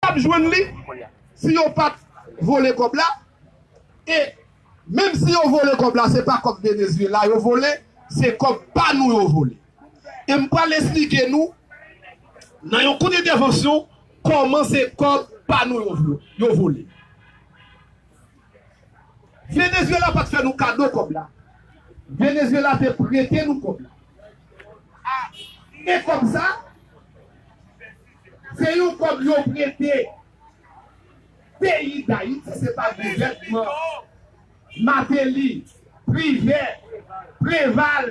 Pap jwenn li si yo pat vole kòb la e menm si yo vole kòb la se pa kòb Venezuela yo vole se kòb pa nou yo vole e m pral esplike nou nan yon kout entèvansyon kòman se kòb pa nou yo vole Venezuela pat fè nou kado kòb la Venezuela te prete nou kòb la e kòb sa. Se yon kob yo prete peyi dayiti se pa gouvènman mateli, privè, preval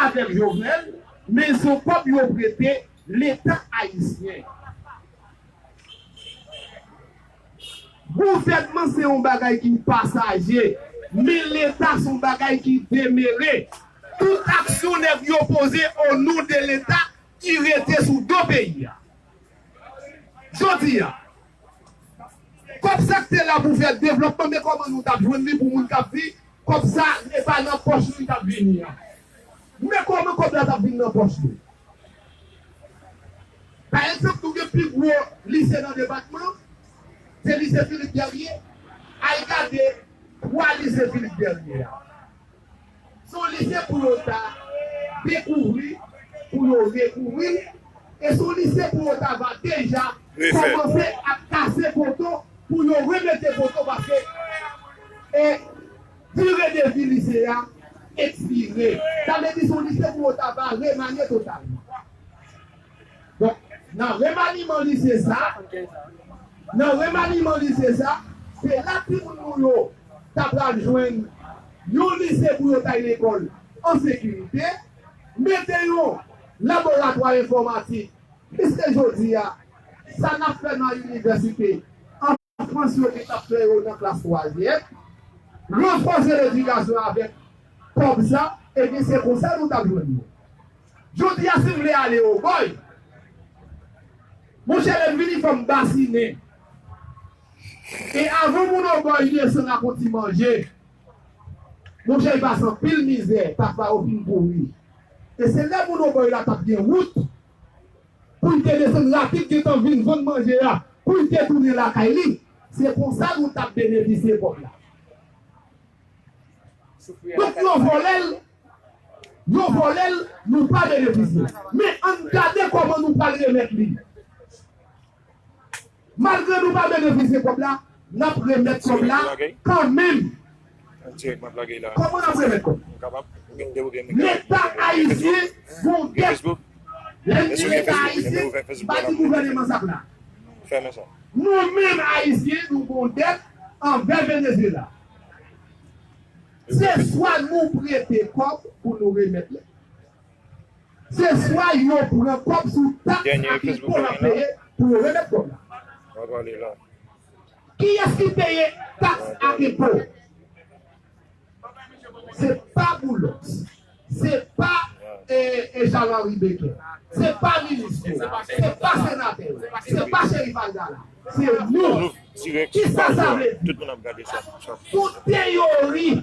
avek jovenel men son kob yo prete leta ayisyen. Gouvènman se yon bagay ki pasaje men leta son bagay ki demere tout aksyon nèg yo poze o non de leta ki rete sou do peyi a jodi a kòb sa k te la pou fè devlòpman men kòman nou tap jwenn li pou moun kap vi kòb sa e pa nan pòch nou li tap vini an men kòman kòb la tap vin nan pòch nou pa egzanp nou gen pi gwo lise nan depatman se lise Philippe Guerrier al gade 3 lise Philippe Guerrier a. Son lise pou yo ta dekouvri, pou yo rekouvri, e son lise pou yo ta va deja kòmanse ap kase poto pou yo remete poto paske e dire de vi lise a ekspire. Sa vle di son lise pou yo ta va remanye totalman. Bon, nan remaniman lise sa, nan remaniman lise sa, se la timoun nou yo ta pral jwenn yon lise pou yo tay lekòl an sekirite, mete yon laboratwa enfòmatik, piske jodi a, sa n ap fè nan inivèsite, an. Frans yo gentan fè yo nan klas twazyèm, ranfòse ledikasyon avèk kòb sa, ebyen se konsa nou tap jwenn yo. Jodi a si m vle ale Ogòy, monchè lè m vini fò m basinen. E avan moun Ogòy desann ak yon ti manje, monchè y pase anpil mizè, pafwa yo fin pouri. E se lè moun Ogòy la tap gen wout. pou l te desann rapid gentan vin vann manje a pou l te tounen lakay li, se konsa nou t ap benefisye pòp la. Donk yo vòlè l, yo vòlè l, nou pa benefisye. Men, ann gade kòman nou pral remèt li. Malgre nou pa benefisie kob la nap remet kob la kan menm. Koman nap remet kob. Leta ayisyen gon gèp. Lem di leta ayisyen m pa di gouveneman sa pla. Nou menm ayisyen nou gon dèt anvè Venezuela. Se swa nou prete kob pou nou remet li. Se swa yo pran kòb sou taks ak enpo lap peye pou yo remèt kòb la. Kiyès ki peye taks ak enpo? Se pa Boulos, se pa Jean Henry Becquet, se pa minis yo, se pa senatè yo, se pa Cherif Abdallah, se nou. Kisa sa vle di? Tout teyori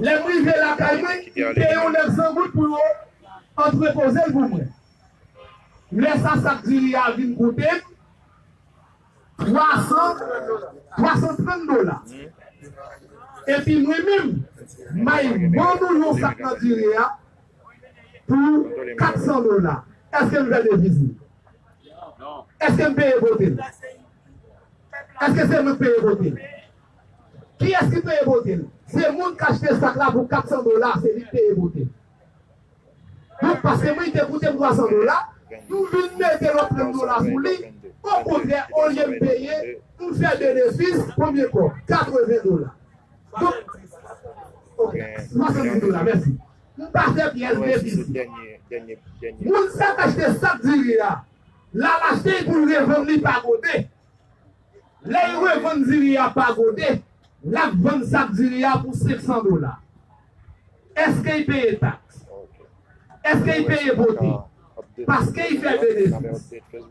Lè m rive lakay mwen, m peye yon nèg san goud pou yo antrepoze l pou mwen. Lè sa sak diri a vin koute m 300, 330 dola. Epi mwen menm, m bay mòn ou yon sak nan diri a pou 400 dola. Èske m fè deviz li? Èske m peye pote l? Èske se mwen k peye pote l? Kiyès ki peye bote l? Se moun k achte sak la pou 400 dola, se li k peye bote l. Donk paske mwen li te koute m 300 dola, nou vin mete lòt 30 dola sou li, okontrè olye m peye, nou fè benefis, konbyen kòb? 80 dola. Donk, ok, 70 dola, mèsi. M pa fè pyès defisi. Moun sa k achte sak diri a, la l achte li pou l revann li pa gode. Lè y revann diri a pa gode, l ap vann sak diri a pou 500 dola. Èske y peye taks? Èske y peye bote? Paske y fè benefis.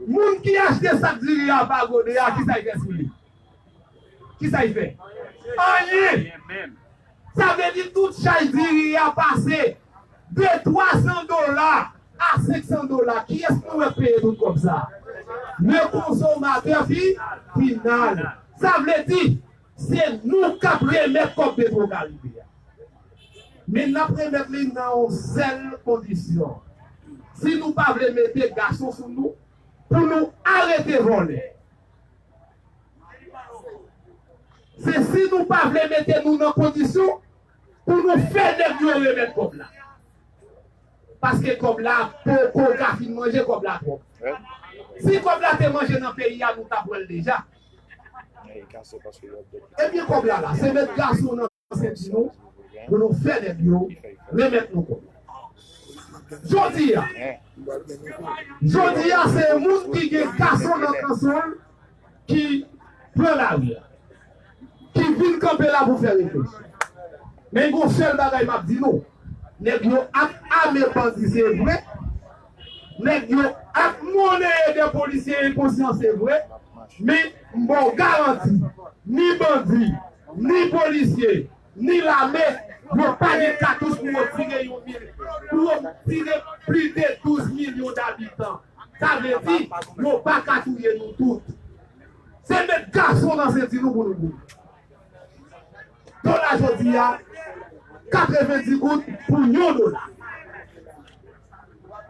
Moun ki achte sak diri a pa gode a, kisa y fè sou li? Kisa y fè? Anyen! Sa vle di tout chay diri a pase de 300 dola a 500 dola. Kiyès nou wè k peye tout kòb sa? Le konsomatè fi final. Sa vle di se nou k ap remèt kòb Petrocaribe a. Men n ap remèt li nan yon sèl kondisyon. Si nou pa vle mete gason sou nou pou nou arete vòlè. Se si nou pa vle mete nou nan kondisyon pou nou fè nèg yo remèt kòb la. Paske kòb la poko ka fin manje kòb la twòp. Si kòb la te manje nan peyi a nou ta pran l deja. Ebyen kòb la la se mèt gason nan. Se di nou pou nou fè nèg yo remèt nou kòb la. Jodi a, jodi a se moun ki gen kason nan kanson l ki pran lari a, ki vin kanpe la pou fè refleksyon. Men gen yon sèl bagay m ap di nou, nèg yo ap ame bandi se vre, nèg yo ap monneye de polisye enkonsyan se vre men m ba w garanti ni bandi ni polisye ni lame yo pa gen katouch pou yo tire yon mil pou yo tire pli de 12 milyon dabitan sa vle di yo pa ka touye nou tout se met gason nan senti nou pou nou goumen dola jodi a 90 goud pou yon dola.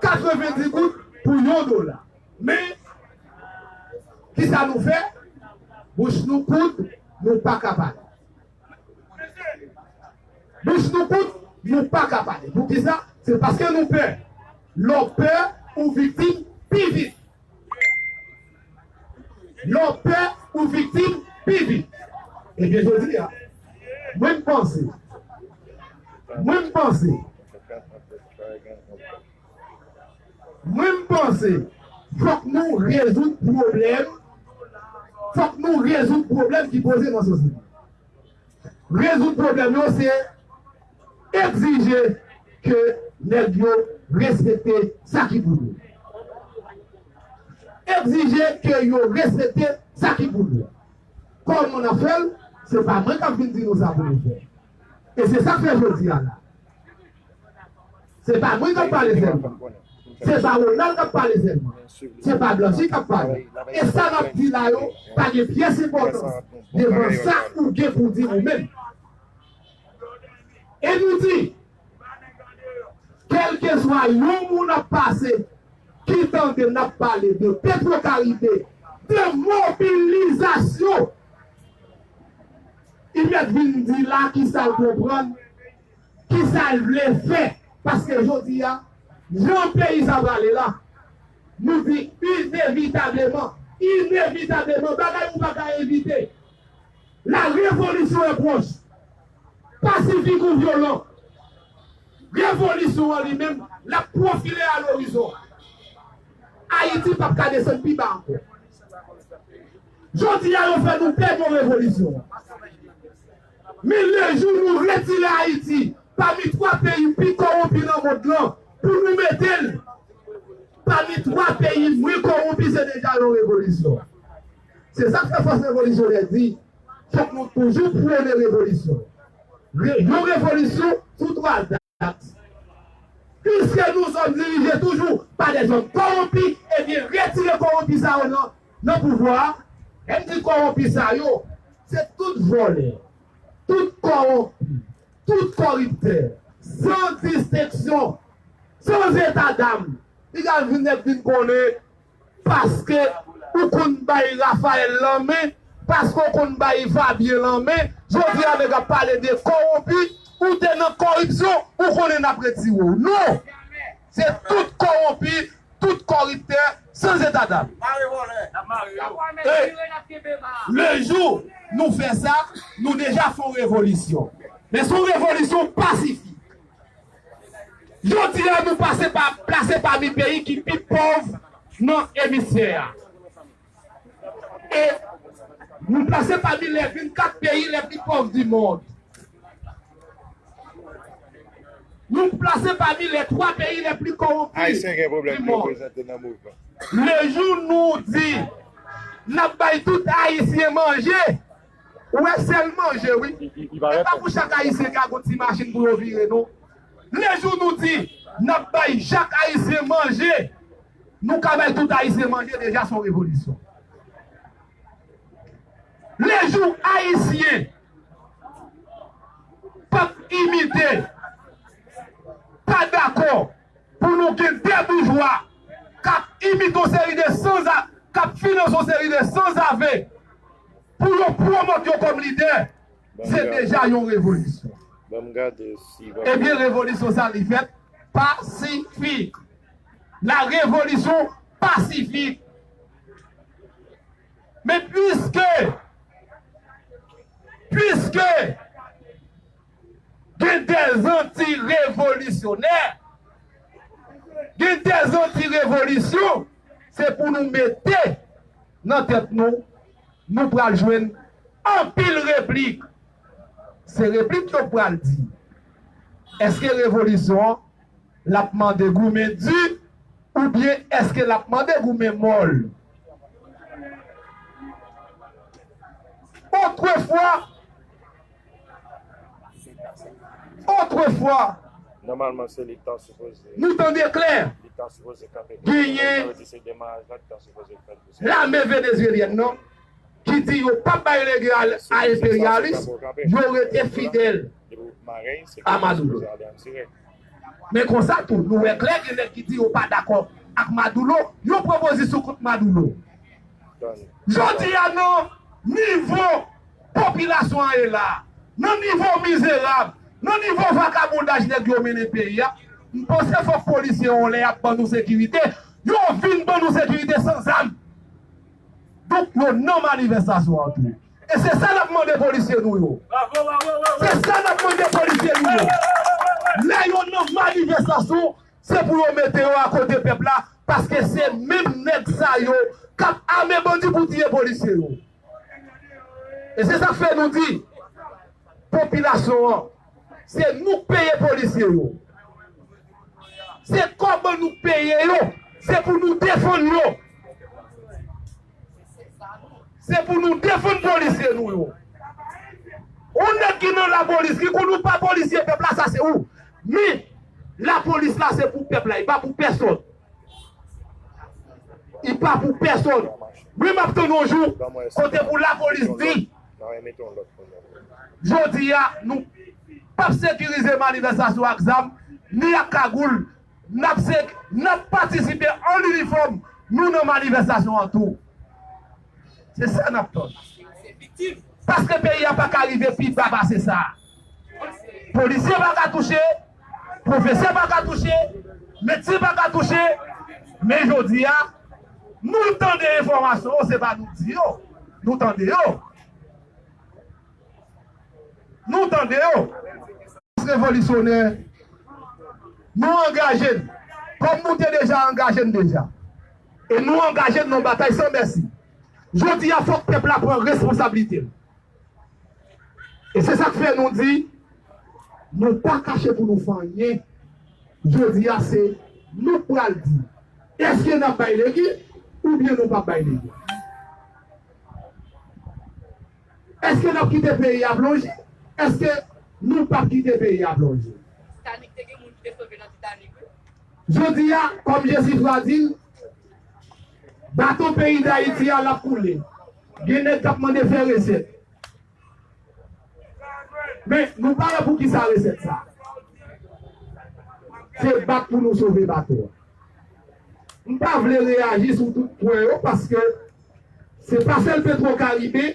90 goud pou yon dola men kisa nou fè bouch nou koud nou paka pale bouch nou koud nou paka pale poukisa se paske nou pè lè w pè ou viktim pi vit lè w pè ou viktim pi vit ebyen jodi a mwen m panse mwen m panse Mwen m panse fok nou rezoud pwoblem fok nou rezoud pwoblem ki poze nan sosyete. Rezoud pwoblem yo se egzije ke neg yo respekte sa ki pou yo. Egzije ke yo respekte sa ki pou yo. Koman nap fel? Se pa mwen kap vin di nou sa pou nou fe. E se sa k fè jodi a la. Se pa mwen k ap pale sèlman. Se pa Ronald k ap pale sèlman. Se pa Blanchie k ap pale. E sa m ap di la yo pa gen pyès enpòtans devan sa ou gen pou di ou menm. E nou di, kèlkeswa yon moun ap pase ki tande n ap pale de Petwokaribe, de mobilizasyon, I mèt vin di la kisa l konprann, kisa l vle fè. Paske jodi a, jan peyi sa prale la, nou di inevitableman, inevitableman, bagay ou pa ka evite, la revolisyon an pwòch. Pasifik ou vyolan, revolisyon an li menm, l ap pwofile a lorizon. Ayiti p ap ka desann pi ba ankò. Jodi a yo fè nou pè yon revolisyon. Men le jou nou retire Ayiti pami 3 peyi pi kowonpi nan mond lan pou nou mete l pami 3 peyi mwen kowonpi se deja yon revolisyon. Se sa k fè fòs revolisyonè di fòk nou toujou pwone revolisyon. Yon revolisyon sou 3 zak. Piske nou zòm dirije toujou pa de zòm kowonpi ebyen retire kowonpi sa yo nan nan pouvwa a. Lè m di kowonpi sa yo, se tout vòlè, tout kowonpi, tout koriptè, san distenksyon, san etadam. Li ka vin nèt vin konnen Paske ou konn bay Raphael lanmen paske ou konn bay Fabien lanmen jodi a nèg ap pale de kowonpi ou te nan koripsyon ou konnen nap retire w non se tout kowonpi tout koriptè san zeta dam e le jou nou fè sa nou deja fon revolisyon men son revolisyon pasifik. Jodi a nou pase pa plase pami peyi ki pi pòv nan emisfè a. E nou plase pami lè 24 peyi lè pi pòv di mond. Nou plase pami lè 3 peyi lè pli kowonpi di mond. Le jou nou di nap bay tout ayisyen manje Ou wè sel manje wi. E pa pou chak ayisyen ka gon ti machin pou yo vire non. Le jou nou di nap bay jak ayisyen manje nou ka bay tout ayisyen manje deja son revolisyon. Le jou ayisyen pap imite pa dakò. Pou nou gen 2 boujwa kap imite yon seri de sanza, kap finanse yon seri de sanzave pou yo pwomot yo kom lidè, se deja yon revolisyon. Ebyen revolisyon sa li fèt pasifik. La revolisyon pasifik. Men pwiske, pwiske. Gen de zanti revolisyonè, gen de zanti revolisyon se pou nou mete nan tèt nou, nou pral jwenn anpil replik. Se replik yo k pral di èske revolisyon an l ap mande goumen di oubyen èske l ap mande goumen mòl. Otrefwa. Otrefwa, nou tande klè, genyen lame venezyelyèn nan ki di yo pap bay legal a enperyalis, yo rete fidèl a Maduro. Men konsa tou, nou wè klè gen nèg ki di yo pa dakò ak Maduro, yo pran pozisyon kont Maduro. Jodi a nan nivo. Popilasyon an ye la, nan nivo mizerab, nan nivo vakabondaj nèg yo mennen peyi a, m panse fòk polisye yon lè ap ban nou sekirite, yo vin ban nou sekirite san zam. Donk yo nan manivèstasyon an tou. E se sa n ap mande polisye nou yo. Se sa n ap mande polisye nou yo. Lè yo nan manivèstasyon, se pou yo mete yo akote pèp la, paske se menm nèg sa yo k ap ame bandi pou tiye polisye yo. E se sak fè nou di popilasyon an se nou k peye polisye yo. Se kòb nou k peye yo, se pou nou defann yo. Se pou nou defann polisye nou yo. On nèg ki nan lapolis ki konn ou pa polisye pèp la sa se ou. Men lapolis la se pou pèp la, li pa pou pèsòn. I pa pou pèsonn. Wi map tann yon jou kote pou lapolis di jodi a nou pap sekirize manifestasyon ak zam ni ak kagoul nap nap patisipe an inifòm nou nan manifestasyon an tou se sa nap tann paske peyi a paka rive pi ba pase sa polisye paka touche. Pwofesè pa ka touche, medsen pa ka touche, men jodi a, nou tande enfòmasyon yo, se pa nou k di yo, nou tande yo. Nou tande yo. Jès revolisyonè, nou angaje n, kòm nou te deja angaje n deja, e nou angaje n nan batay san mèsi. Jodi a fòk pèp la pran responsablite l, E se sa k fè nou di, nou pa kache pou nou fè anyen, jodi a se nou k pral di èske n ap bay legi oubyen nou p ap bay legi. Èske n ap kite peyi a plonje, èske nou p ap kite peyi a plonje. Jodi a, kòm Jesifra di l, bato peyi Dayiti a l ap koule. Gen nèg kap mande fè resèt. Men nou pa wè poukisa resèt sa. Se bat pou nou sove bato a. M pa vle reyaji sou tout pwen yo paske se pa sèl petro karibe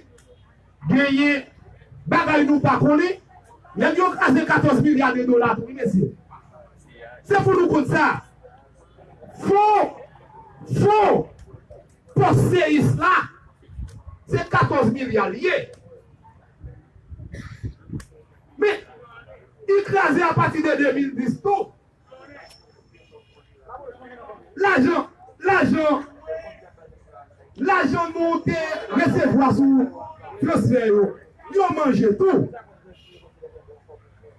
genyen bagay nou pa konnen. Nèg yo kraze 14 milya de dola tou wi mesye. Se pou nou konn sa. Fon! Fon! Pòs seyis la se 14 milya li ye. Men, li kraze apati de 2010 tou. Lajan, lajan, lajan nou te resevwa sou transfè yo, yo manje tou.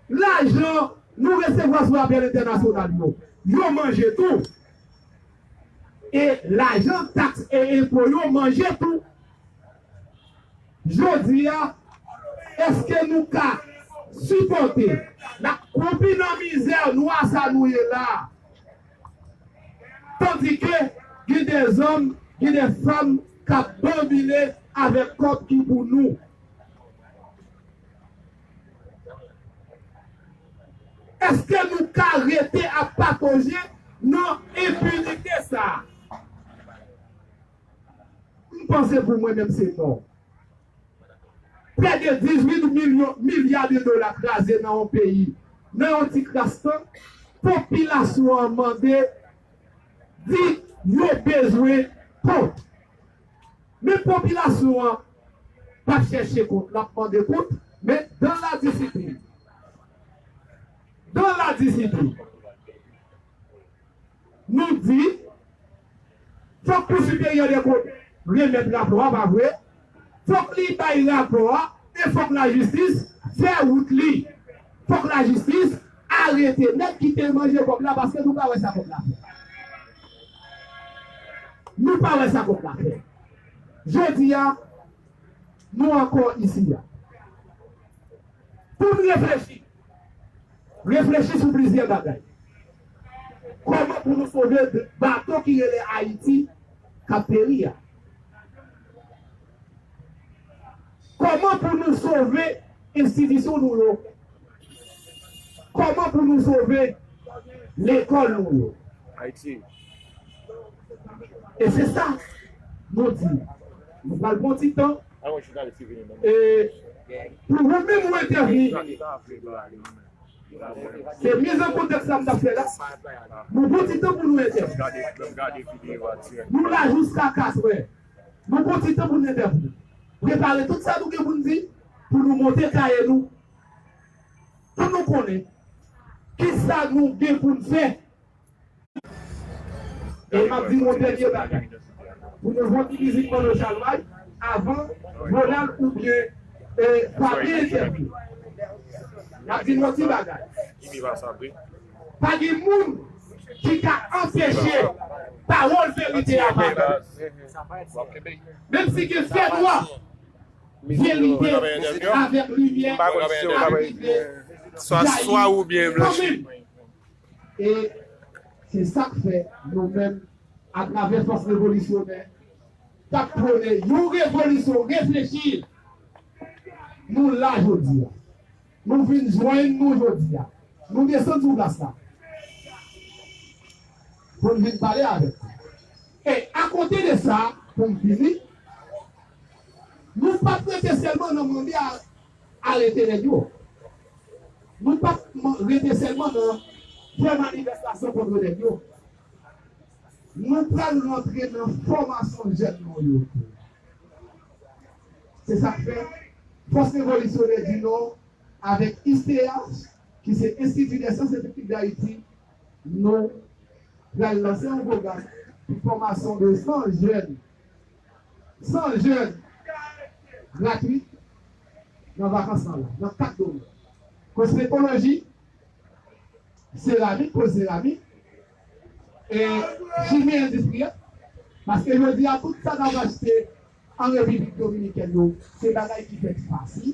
Lajan nou resevwa sou apèl entènasyonal yo, yo manje tou. e lajan taks e enpo yo manje tou. Jodi a, èske nou ka sipòte n ap kwoupi nan mizè nwa sa nou ye la a, tandike gen de zòm, gen de fanm k ap banbile avèk kòb ki pou nou? Eske nou ka rete ap pataje nan enpinite sa a? M panse pou mwen menm se non. Prè de 18 milyon milya de dola kraze nan yon peyi nan yon ti kras tan, popilasyon an mande di yo bezwen kont. Men popilasyon an pa chèche kont, l ap mande kont, men dans la discipline. Dans la discipline. Nou di, fòk Kou Siperyè dè Kont remèt rapò a, pa vre? Fòk li bay rapò a e fòk lajistis fè wout li. Fòk lajistis Arete nèg ki te manje kòb la paske nou pa wè sa kòb la fè. Nou pa wè sa kòb la fè. Jodi a nou ankò isi a pou n reflechi. Reflechi sou plizyè bagay. Kòman pou nou sove bato ki rele Ayiti k ap peri a. Kòman pou nou sove enstitisyon nou yo? Kòman pou nou sove lekòl nou yo? E se sa nou di, nou pral pran ti tan e pou ou menm ou entèvni. Se miz an kontèks la m t ap fè la. Nou pran ti tan pou nou entèvni. Nou la jiska katrè. Nou pran ti tan pou n entèvni. Prepare tout sa nou gen pou n di pou nou monte kaye nou pou nou konnen ki sa nou gen pou n fè. E m ap di nou yon dènye bagay pou nou jwenn ti mizik Manno Chalmay avan Ronald oubyen Fabie entèvni. M ap di nou yon ti bagay. Pa gen moun ki ka anpeche pawòl verite a parèt. Menm si gen fènwa, verite avèk limyè ap rive jayi kanmenm. E se sa k fè nou menm, atravè fòs revolisyonè k ap pwone yon revolisyon reflechi, nou la jodi a. Nou vin jwenn nou jodi a. Nou desann sou plas la pou n vin pale avèk nou. E akote de sa, pou m fini, nou pa t rete sèlman nan mande arete nèg yo. Nou pa t rete sèlman nan fè manifestasyon kontre nèg yo. Nou pral rantre nan fòmasyon jèn nou yo tou. Se sa k fè, Fòs Revolisyonè di Nò avèk ISTEAH, ki se Enstiti dè Syans e Teknik Dayiti, nou pral lanse yon pwogram pou fòmasyon de 100 jèn, 100 jèn gratwit nan vakans lan nan 4 domèn, kosmetoloji, seramik, poz seramik, E jije endistri a, paske jodi a tout sa n ap achte an Repiblik Dominikèn yo se bagay ki fèt fasil,